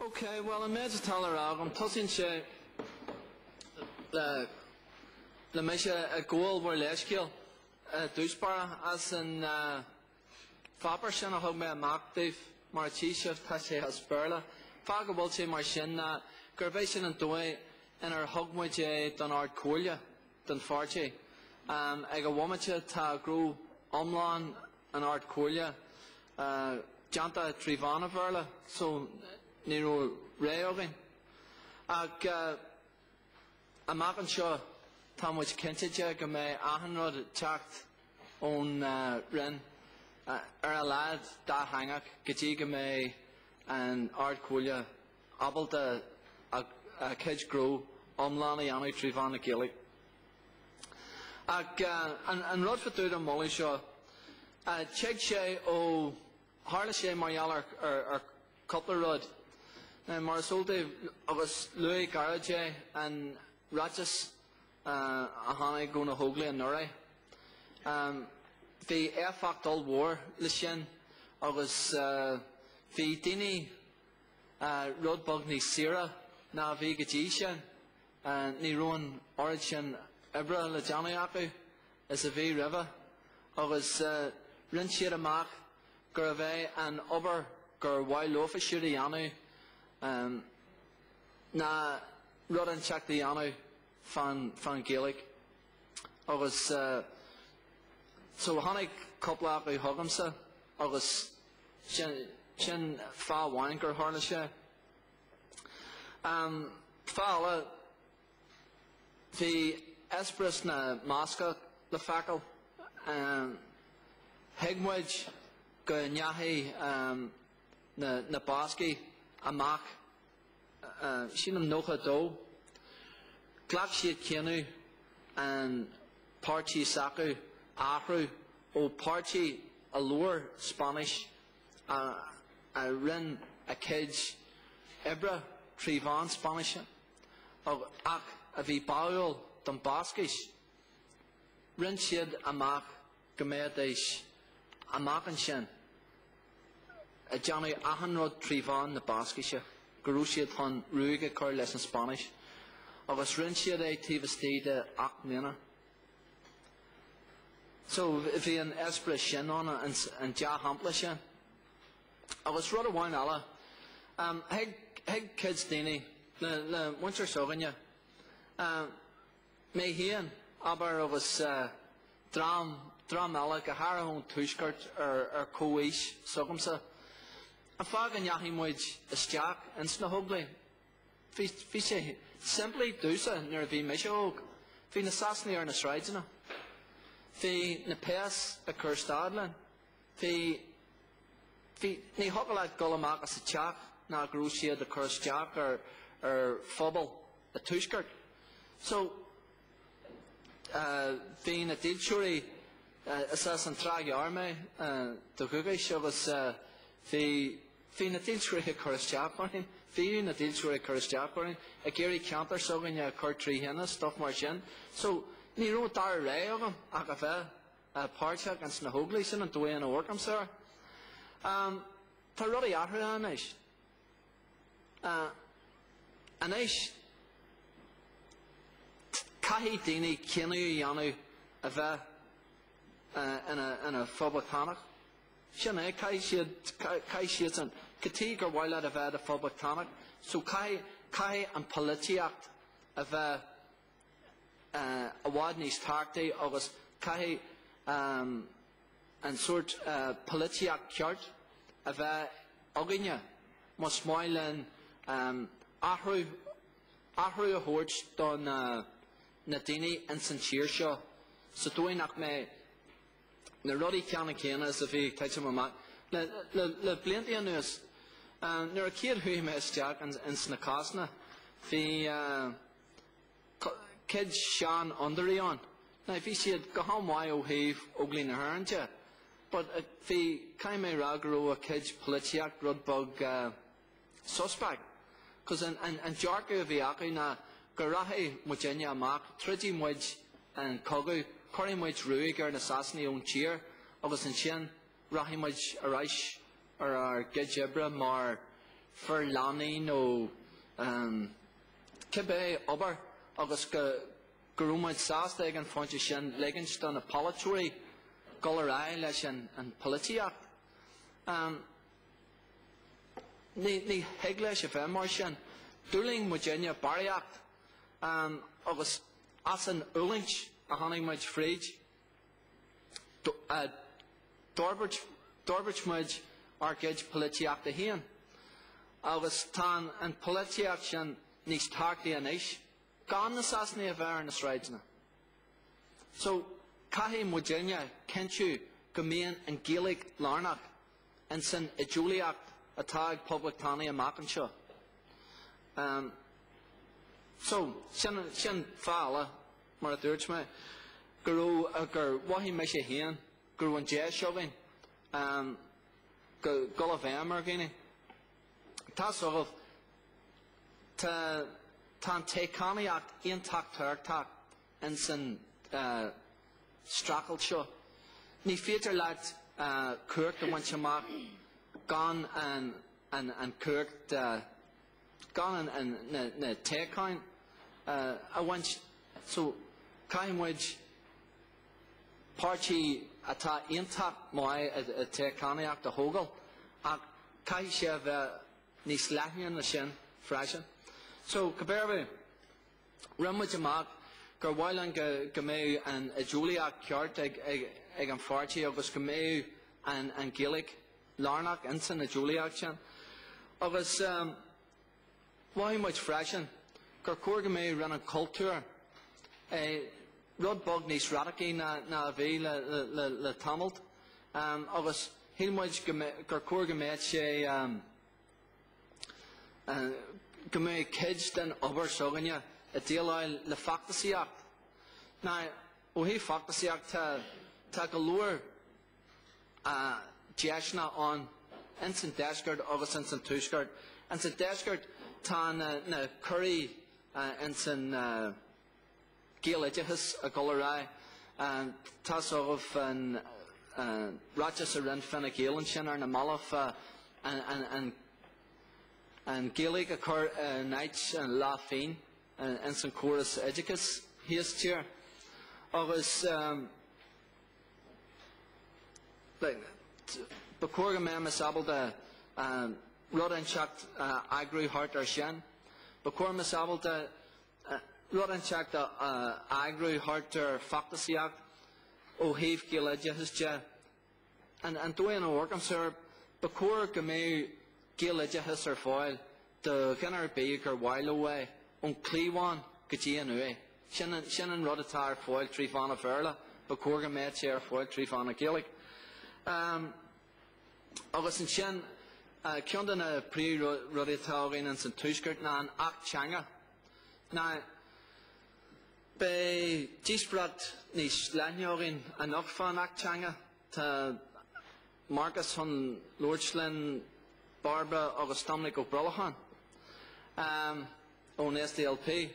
Ok, bhuel an méid atá le rá agam, tosaíonn sé le mise ag gabháil bhur leithscéil, i dtús báire, as an pháipéar sin a thug mé amach daoibh mar a tchí sibh tá sé as Béarla. An fáth go bhfuil sé mar sin ná gurb é sin an dóigh inar thug muid é don Ard Comhairle den pháirtí. Um, ag an bhomaite tá gnó iomlán an Ard Comhairle uh, déanta trí mheán an Bhéarla so ní raibh ré againn. Ag uh, Amach anseo, tá muid cinnte de go mbeidh achan rud ag teacht ón Roinn, ar a laghad dátheangach, go dtí go mbeidh an Ard-Chomhairle ábalta a cuid gnó iomlán a dhéanamh trí mheán na Gaeilge. Ach an rud fa dtaobh den mholadh seo, tig sé ó, tharla sé mar gheall ar cúpla rud. Mar is eol daoibh, agus luaigh Gerry é, an ráiteas a tháinig ó na hÓglaigh anuraidh, bhí éifeacht ollmhór leis sin agus bhí daoine rud beag níos saoire ná a bhí go dtí sin. Ní raibh an oiread sin oibre le déanamh acu is a bhí roimhe agus rinne siad amach gurbh é an obair gur mhaith leofa siúd a dhéanamh ná rud inteacht a dhéanamh fán Ghaeilge. Agus so tháinig cúpla acu chugamsa agus sin fáth amháin gur tharla sé. Fáth eile, Bhí eispéireas na mBascach le feiceáil. Thuig muid go ndeachaigh na Bascaigh amach, sílim nócha a dó, ghlac siad cinneadh an páirtí s'acu a athrú ó páirtí a labhair Spáinnis, a rinne a cuid oibre trí mheán Spáinnise, ach a bhí báúil don Bhascais, rinne siad amach go mbeidís amach ansin ag déanamh achan rud trí mheán na Bascaise, go raibh siad chun ruaig a chur leis an Spáinnis, agus rinne siad é taobh istigh de ocht mbliana. So bhí an eispéireas sin ann, an dea-shampla sin. Agus rud amháin eile, thuig cuid daoine, le muintir s'againne, mé féin, abair, agus dream eile, go háirithe ón Tuaisceart ar chomhaois s'agamsa, an fáth go ndeachaigh muid isteach ins na hÓglaigh. Bhí sé simplí domhsa nuair a bhí mise óg, bhí na Sasanaigh ar na sráideanna, bhí na péas ag cur stad linn, Bhí, bhí, ní thiocfadh leat dul amach as a teach ná go raibh siad ag cur isteach ar, ar phobal an Tuaiscirt. So, eh, bhí na dílseoirí, eh, is as an Trá Ghearr mé, eh, de dhúchas agus eh, bhí, bhí na dílseoirí ag cur isteach orainn, bhíodh na dílseoirí ag cur isteach orainn, ag iarraidh ceantar s'againne a chur trí thine, stuff mar sin. So, ní raibh an dara rogha agam ach a bheith páirteach ins na hÓglaigh, sin an dóigh a n-amharcaimse air. Tá rudaí athruithe anois. Anois, caithfidh daoine cinneadh a dhéanamh a bheith ina Phoblachtánach. Sin é, caithfidh siadsan, cad chuige ar mhaith leat a bheith i do Phoblachtánach, so caithfidh an pholaitíocht a bheith, i bhfad níos tábhachtaí agus caithfidh an sórt polaitíocht cheart a bheith againne más maith linn athrú a thabhairt do na daoine ins an tír seo sa dóigh nach mbeidh na rudaí ceannann céanna is a bhí ag titim amach le blianta anuas nuair a chéad chuaigh mé isteach ins na cásanna bhí Cuid seanfhondúirí ann. Now, bhí siad go han-mhaith ó thaobh Óglaigh na hÉireann de, but uh, bhí, caithfidh mé rá go raibh a gcuid polaitíocht rud beag uh, suspect. Cos an, an, an dearcadh a bhí acu ná go rachadh muidne amach, troidfidh muid an cogadh, cuirfidh muid ruaig ar na Sasanaigh ón tír, agus ansin Rachaidh muid ar ais ar ár gcuid oibre mar fir lánaí nó cibé obair agus go raibh muid sásta ag an phointe sin ligint do na polaiteoirí dul ar aghaidh leis an pholaitíocht. Ní thig leis a bheith mar sin. D'fhulaing muidne barraíocht agus as an fhulaingt a tháinig muid fríd. D'fhorbairt muid ár gcuid polaitíochta féin, agus tá an pholaitíocht sin níos tábhachtaí anois, gan na Sasanaigh a bheith ar na sráideanna. So, caithfidh muidinne cinntiú go mbíonn an Ghaeilge lárnach in san idéolaíocht atá ag Poblachtánaigh amach anseo. So, sin fáth eile. mar a dúirt mé, go raibh, gur mhothaigh mise féin go raibh an deis againn um, dul i bhfeidhm ar dhaoine. Tá fhios agaibh, tá, tá an toghchánaíocht iontach tábhachtach in san uh, streachailt seo. Ní féidir leat uh, cumhacht a bhaint amach gan an, an, an cumhacht uh, gan na toghcháin a bhaint. So, caithfidh muid páirtí atá iontach maith ag toghchánaíocht a thógáil, ach caithfidh sé a bheith níos leithne ná sin freisin. So, cibé ar bith, rinne muid amach gur mhaith linn go mbeadh an idéolaíocht ceart ag an pháirtí agus go mbeadh an Ghaeilge lárnach insan idéolaíocht sin. Agus mhothaigh muid freisin gur chóir go mbeadh Roinn an Chultúir, rud beag níos radacaí ná a bhí le tamalt, agus shíl muid gur chóir go mbeadh sé, go mbeadh cuid den obair s'againne ag déileáil le feachtasaíocht. Now, ó thaobh feachtasaíocht, tá go leor, deiseanna ann ins an deisceart agus ins an tuaisceart. Ins an deisceart tá na ciorruithe ins an ghaeloideachas ag dul ar aghaidh. Tá fhios agaibh an ráiteas a rinne Fine Gael ansin ar na mallaibh an Ghaeilge a chur in áit na leathphingine ins an chóras oideachais thíos tíre. Agus. Ba chóir go mbeimis ábalta rud inteacht a eagrú thart air sin. Ba chóir mbeimis ábalta rud inteacht a eagrú thart ar feachtasaíocht ó thaobh gaeloideachais de. An dóigh a amharcaimse air, ba chóir go mbeadh gaeloideachas ar fáil Do dhuine ar bith gur mhaith leo é, ón cliabhán go dtí an uaigh, sin, sin an rud atá ar fáil trí mheán an Bhéarla, ba chóir go mbeadh sé ar fáil trí mheán an Ghaeilge. Agus ansin, ceann de na príomhrudaí atá againn ins an Tuaisceart ná an Acht Teanga. Now beidh díospóireacht níos leithne againn anocht fán Acht Teanga. Tá, Marcas chun labhairt linn, Bairbre agus Doiminic Ó Brolcháin ón SDLP.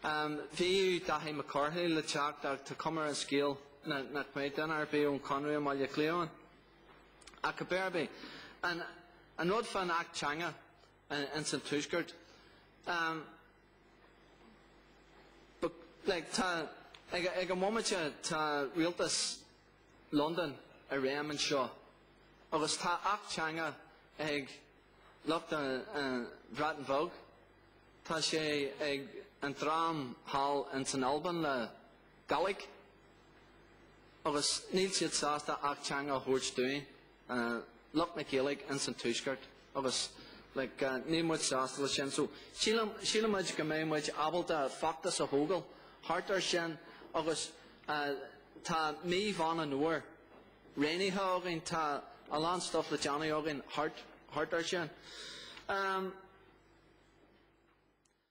Bhí Dáithí Mac Cárthaigh le teacht ach tá cuma ar an scéal nach mbeidh duine ar bith ón Chonradh i mBaile Átha Cliath ann. Ach cibé ar bith, an rud fán Acht Teanga ins an Tuaisceart, ag an bhomaite tá rialtas, Londain i réim anseo agus tá Acht Teanga ag lucht an Bhreatain Bheag, tá sé ag an dream thall ins an Albain le Gàidhlig agus níl siad sásta Acht Teanga a thabhairt dúinn. lucht na Gaeilge ins an Tuaisceart agus like níl muid sásta le sin so síleann muid go mbeidh muid ábalta feachtas a thógáil thart ar sin agus tá mí Mheán an Fhómhair roghnaithe againn tá a lán stuff le déanamh againn thart thart ar sin.